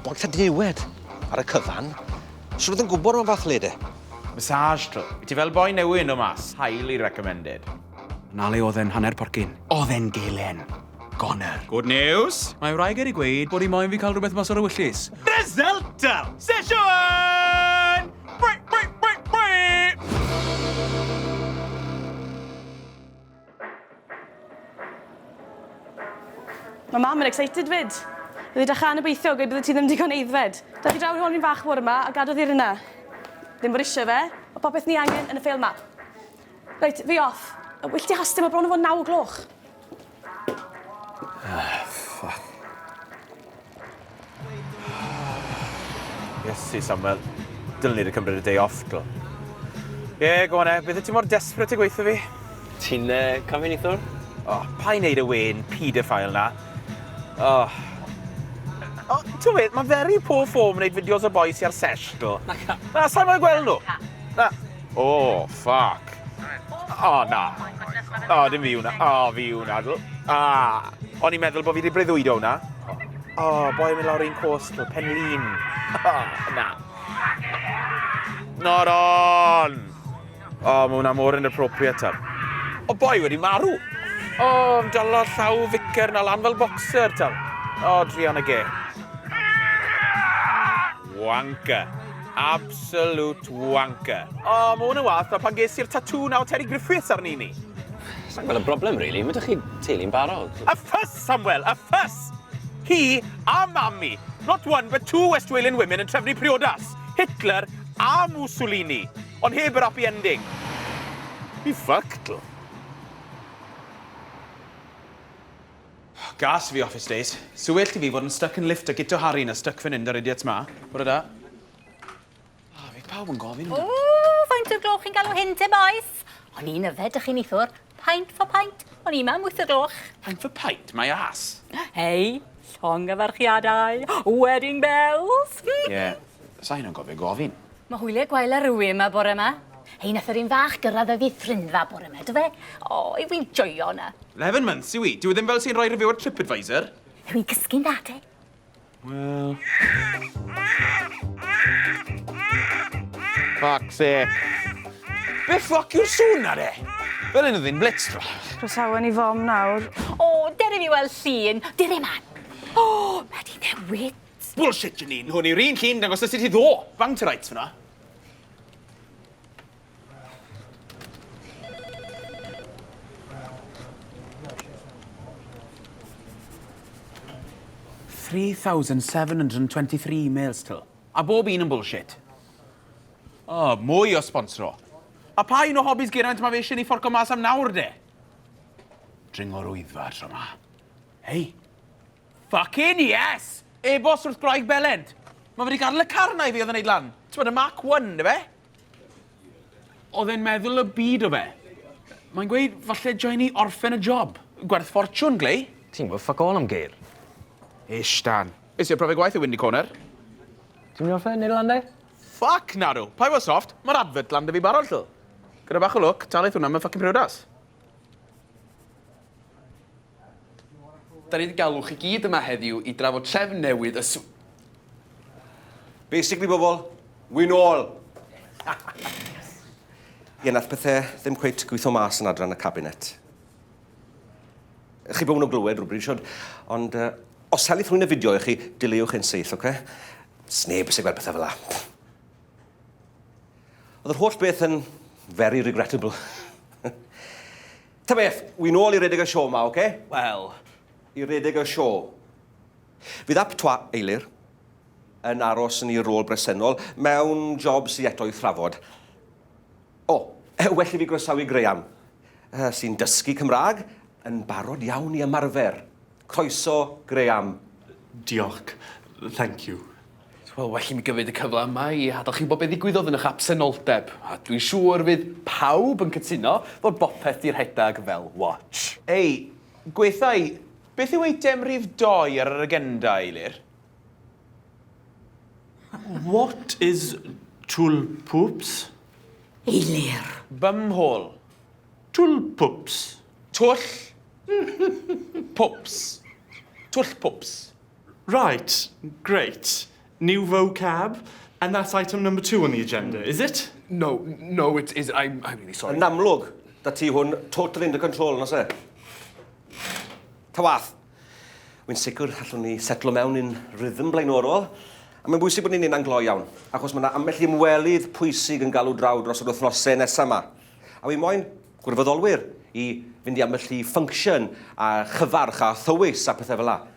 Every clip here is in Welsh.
Bod ta dniwed ar y cyfan. Swn oedd yn gwybod am y fath le de. Massage tw. Wyt ti fel boi newydd no mas? Highly recommended. Na le oedd e'n hanner porcyn. Oedd e'n gelen. Goner. Good news! Mae wraig wedi gweud bod hi moyn fi cael rhywbeth mas o'r ewyllys. Resultau! Sesiwn! Bri! Bri! Bri! Bri! Mae mam yn excited fyd. Bydd edrych yn obeithio, gweud bydde ti ddim digon eiddfed. Dad i draw i'r honyn fach bore ma a gadodd i'r yna. Ddim bod eisiau fe, mae popeth ni angen yn y ffeil ma. Reit, fi off. Wyll ti hastio, mae bron yn fod naw o gloch. Ah, ffwc. Iesu, Samuel. Dylen ni wedi cymryd y day off, dlo. Ie, yeah, go on e. Beth ti mor desperate i gweithio fi? Ti'n uh, camfenithwr? O, oh, pa i wneud y wen paedophile na? O. Oh. O, oh, ti'n meddwl, mae very poor form wneud fideos o boes i ar sesh, dlo. Na, sa'n mwyn gweld nhw. Na. O, oh, ffac. O, oh, na. O, oh, dim fi hwnna. O, oh, fi hwnna. Ah. O'n i'n meddwl bod fi wedi breuddwydo hwnna. O, oh, boi yn mynd lawr un cost, pen lun. O, oh, na. Not on! O, oh, mae hwnna mor inappropriate tam. O, oh, boi wedi marw. O, oh, am dalo llaw ficer na lan fel boxer tam. O, oh, dri anna ge. Wanker. Absolute wanker. O, oh, mae hwn yn wath, pan ges i'r tatŵ na o Terry Griffiths arni ni. Sa'n gweld y broblem, really. Mae ydych chi teulu'n barod. A ffys, Samuel, a ffys! Hi a mami. Not one, but two West Walian women yn trefnu priodas. Hitler a Mussolini. Ond heb yr happy ending. Fi ffactl. Oh, gas i fi office days. Sa well ti fi fod yn stuck yn lift a gito Harry na stuck fan 'yn 'da'r idiots 'ma. Bore da. Ah, fydd pawb yn gofyn amdano. Ww, faint o'r gloch chi'n galw hyn te, bois? O'n i'n yfed dych chi nithwr. Pint for pint. O'n i mam wyth o gloch. Pint for pint? My ass. Hei, llongyfarchiadau. Wedding bells. Ie, yeah, sa hyn yn gofio gofyn. Ma hwylie gwael ar rywun ma bore ma. Hei nath yr un fach gyrradd y ddiffrynfa bore ma do fe? O i fi'n joio na. 'leven months yw i, dyw e ddim fel sy'n rhoi review ar Tripadvisor. Yw i'n cysgu'n dda te? Wel. Fuck sake. Be ffwc yw'r sŵn na de? Fel un oedd hi'n blitz rhwch. Croesawen i fom nawr. O, dere fi weld llun. Dere man. O, mae di newid. Bullshit, Janine! Hwn yw'r un llun dangos sut i ddo! Bang to rights fyna. Three thousand seven hundred and twenty-three emails till. A bob un yn bullshit. Oh, mwy o sponsro. A pa un o hobbies Geraint mae fe eisiau ni fforco mas am nawr, de? Dringo rwyddfa tro ma. Hei, Fuckin yes! Ebost wrth graig belent. Mae wedi gadl y car yna i fi oedd yn neud lan. Ti'n bod y Mark 1, dy fe? Oedd e'n meddwl y byd o fe. Mae'n gweud, falle joen ni orffen y job. Gwerth ffortiwn, glei. Ti'n gwybod ffuck all am geir. Ish, Dan. Is i'r profiad gwaith y Windy Corner? Ti'n mynd i orffen, neud lan de? Ffuck, nadw. Pai fo soft, mae'r advert lan dy fi barod, llw. Gyda bach o lwc, talith hwnna, mae'n ffucking priodas. Da ni 'di galw chi gyd yma heddiw i drafod trefn newydd y sw... Basically bobl, win all! Ie, nath pethau ddim cweit gweithio mas yn adran y cabinet. Chi bod nhw'n glywed rhywbryd siwr, ond uh, os helith rhywun y fideo i chi, dileuwch ein seill, oce? Okay? Sneb sy'n gweld pethau fel la. Oedd yr holl beth yn very regrettable. Ta beth, wi nôl i redeg y sioe 'ma, oce? Wel, i redeg y sioe. Fydd Ap Twa, Eilir, yn aros yn ei rôl bresennol mewn job sy eto i thrafod. O, well i fi groesawu Graham, sy'n dysgu Cymraeg, yn barod iawn i ymarfer. Croeso, Graham. Diolch. Thank you. Wel, well i mi gyfyd y cyfle yma i adal chi wybod beth ddigwyddodd yn ych absenoldeb, a dwi'n siŵr fydd pawb yn cytuno fod bopeth 'di rhedag fel watch. Hei, gweithau, beth yw eitem rhif dou ar yr agenda, Eilir? What is Twlpwps? Eilir. Bumhole. Twlpwps. Twll. Pwps. Twllpwps. Right, great. New vocab, and that's item number two on the agenda, is it? No, no, it is. I'm, I'm really sorry. Yn amlwg, da ti hwn totally under control, nos e? Ta wath. Wy'n sicr allwn ni setlo mewn yn rhythm blaenorol, a mae'n bwysig bod ni'n un glo iawn, achos mae yna ambell i ymwelydd pwysig yn galw draw dros yr wythnosau nesaf yma. A wy'n moyn gwirfoddolwyr i fynd i ambell i function a chyfarch a thywys a pethau fel la.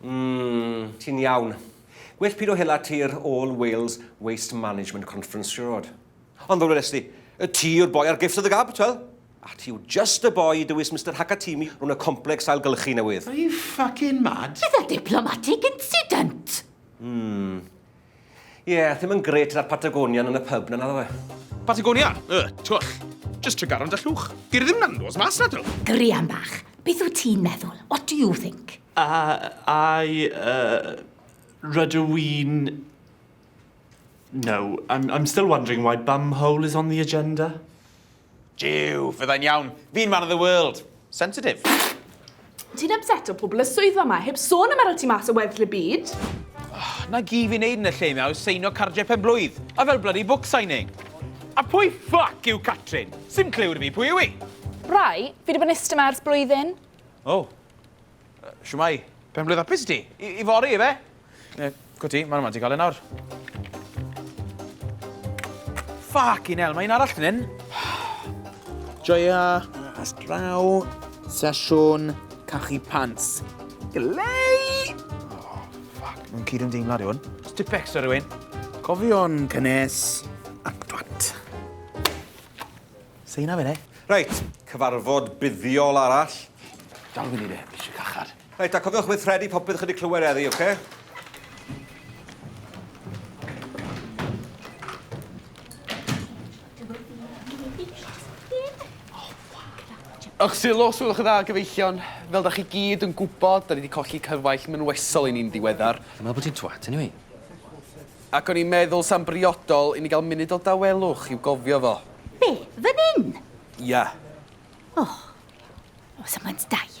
Mmm, ti'n iawn. Well pido hela ti i'r All Wales Waste Management Conference, siwr fod. Ond fel weles di, y ti yw'r boi ar Gifts of the Gab, twel? A ti yw just y boi i dywys Mister Hakatimi rhwng y complex ailgylchu newydd. Are you fucking mad? Bydd y diplomatic incident! Mmm. Ie, yeah, ddim yn gret gyda'r Patagonian yn y pub na naddo fe. Patagonia? Y, twll. Just trigaron da llwch. Di'r ddim na'n nos mas na dro. Grian bach, beth wyt ti'n meddwl? What do you think? A, I, uh, rydw i'n... No, I'm, I'm still wondering why bumhole is on the agenda. Jiw, fyddai'n iawn. Fi'n man of the world. Sensitif. Ti'n ypseto pobl y swyddfa ma, heb sôn am aro ti mas o weddill y byd. Oh, na gi fi'n neud yn y lle ma yw seino cardiau pen blwydd, a fel bloody book signing. A pwy ffuck yw Catrin? Sim clyw da fi pwy yw i. Rai, fi di bod yn iste ma ers blwyddyn. Oh. Shwmai? Penblwydd hapus i ti. I, i fori, efe? E, go ti, mae'n yma ti gael e nawr. Ffac i'n el, mae un arall yn hyn. Joia, as draw, sesiwn, cachu pants. Glei! Oh, ffac, mae'n cyd yn deimlad i hwn. Stipex o rywun. Cofion cynnes, ac dwat. Say na mine. Reit, cyfarfod buddiol arall. Dal fyny de, fi eisiau cachar. Reit, a cofiwch weithredu popeth chi wedi clywed eddi, oce? Okay? Ych sylw, os ywch dda, gyfeillion, fel da chi gyd yn gwybod, da ni wedi colli cyfaill mynwesol i ni'n ddiweddar. Dwi'n meddwl bod ti'n twat, anyway. Ac o'n i'n meddwl sa'n briodol i ni gael munud o dawelwch i'w gofio fo. Be? Fan 'yn? Ia. O. Os am ŵynt daid.